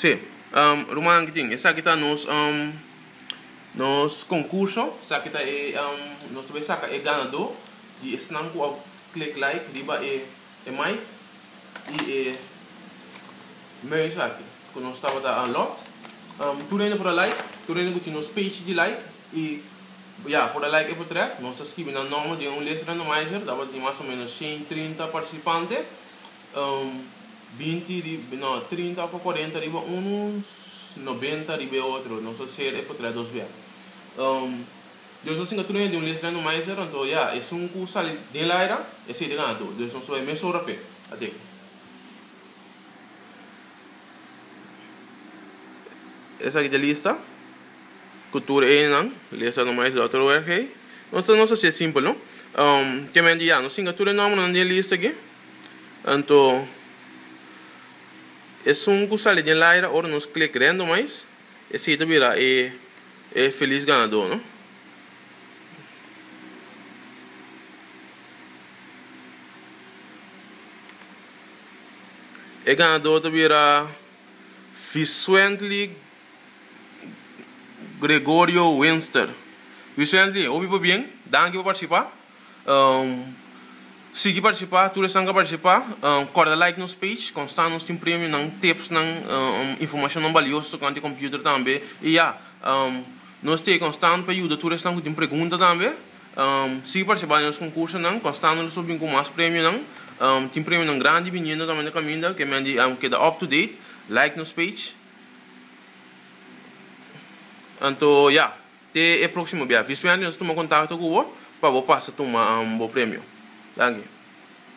Sí, rumannan ki tin, esaki ta nos nos concurso, esaki ta e nos ta bay saca e ganador di esnan cu a click like riba e mic y e mei esaki cu nos tabata unlock, tur hende por a like, tur hende cu tin nos page di like y ya por a like e potrèt, nos ta scribi nan nomber den un lista randomizer, tabata tin mas o menos shen trinta participante. binti riba no trinta of cuarenta riba unu noventa riba e otro nos a ser e por trae dos bia Dios nos singa tur hende un les rando maiser anto ya esun cu sali den el aira e siete gana tur Dios nos lo bay mes ora pe aden esaki ta e lista cu tur e hende nan les rando maiser lo otro word hey nos ta nos ta siye simpel no kier mi a handi ya nos singa tur e nombernan den e lista aki. Anto, esun ku sali den laira ora nos kle kre anto mais, esei ta bira e e felis ganadó, no? E ganadó ta bira Vicently Gregorio Winster. Vicently, hopi pa bien. Danki pa partisipa. Sigui partisipa, tur esnan ka partisipa kòrda like nos page kon sta nos tin premionan, tipsnan, informashonnan balioso tokante e computer tambe i ya nos t'e kon sta pa yuda tur esnan ku tin pregunta tambe sigui partisipa den nos konkursonan kon sta nos lo bin ku mas premionan tin premionan grandi biniendo tambe na kaminda ke men di keda up to date like nos page anto ya. Te e próksimo bia. Vispeaño nos ta tuma kontakto ku bo pa bo pasa tuma bo premio. Danki.